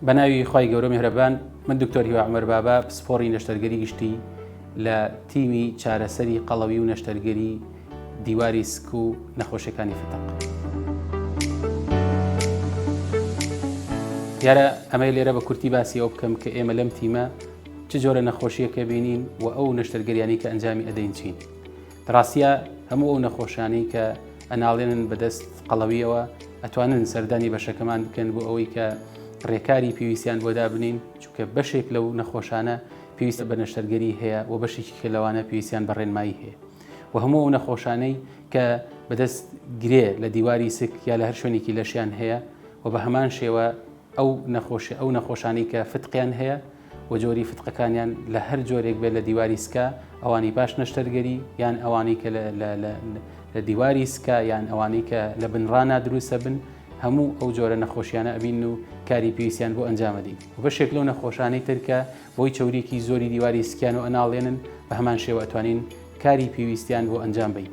بە ناوی خوای گەورە مهرەبان من دکتۆر هیوا عمر بابا پسپۆڕی نەشتەرگەری گشتی لە تیمی چارەسەری قەڵەوی و نەشتەرگەری دیواری سک و نەخۆشیەکانی فتق. دیارە ئەمەی لێرە بە کورتی باسی ئەو بکەم کە ئێمە لەم تیمە چ جۆرە نەخۆشیەکە بینین و ئەو نەشتەرگەریانی کە ئەنجامی ئەدەین چین. ڕاستە هەموو ئەو نەخۆشانەی کە ئەناڵێنن بەدەست قەڵەویەوە ئەتوانن سەردانی بەشەکەمان بکەن بۆ ئەوەی کە ڕێکاری پێویستیان بۆ دابنین چونکە بەشێک لەو نەخۆشانە پێویستە بە نەشتەرگەری هەیە و بەشێکی کە لەوانە پێویستیان بە ڕێنمایی هەیە و هەموو ئەو نەخۆشانەی کە بەدەست گرێ لە دیواری سک یا لە هەر شوێنێکی لەشیان هەیە و بە هەمان شێوە ئەو نەخۆشی ئەو نەخۆشانی کە فتقیان هەیە و جۆری فتقەکانیان لە هەر جۆرێک بێت لە دیواری سکا ئەوانی پاش نەشتەرگەری یان ئەوانەی کە لە دیواری سکا یان ئەوانەی کە لە بنڕانا دروستە بن هەموو ئەو جۆرە نەخۆشیانە ئەبین و کاری پێویستیان بۆ ئەنجامەدەین بەشێک لەو نەخۆشانەی ترکە بۆی چورێکی زۆری دیواری سکیان و ئەناڵێنن بە هەمان شێوە ئەتوانین کاری پێویستیان بۆ ئەنجام بین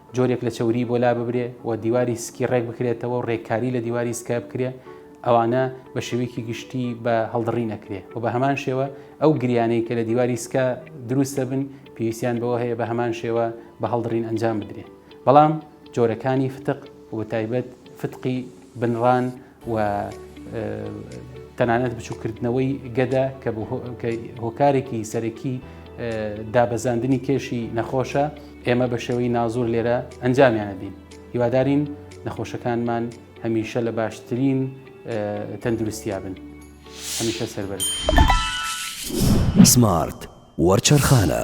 جۆرێک لە چەوریی بۆ لاببرێ و دیواری سکی ڕێک بکرێتەوە و ڕێککاری لە دیواری سکە بکرێ، ئەوانە بە شێوەیەکی گشتی بە هەڵدڕی نەکرێ و بە هەمان شێوە ئەو گریانەی کە لە دیواری سکە دروست دەبن پێویستیان بەوە هەیە بە هەمان شێوە بە هەڵدڕین ئەنجام بدرێ. بەڵام جۆرەکانی فتق و بە تایبەت فتقی بنڕان، و تەنانەت بچووکردنەوەی گەدە کە هۆکارێکی سەرەکی دابەزاندنی کێشی نەخۆشە ئێمە بە شێوەی نازور لێرە ئەنجامیانە دین هیوادارین نەخۆشەکانمان هەمیشە لە باشترین تەندروستیا بن هەمیشە سەربەر سمارت وەرچەرخانە.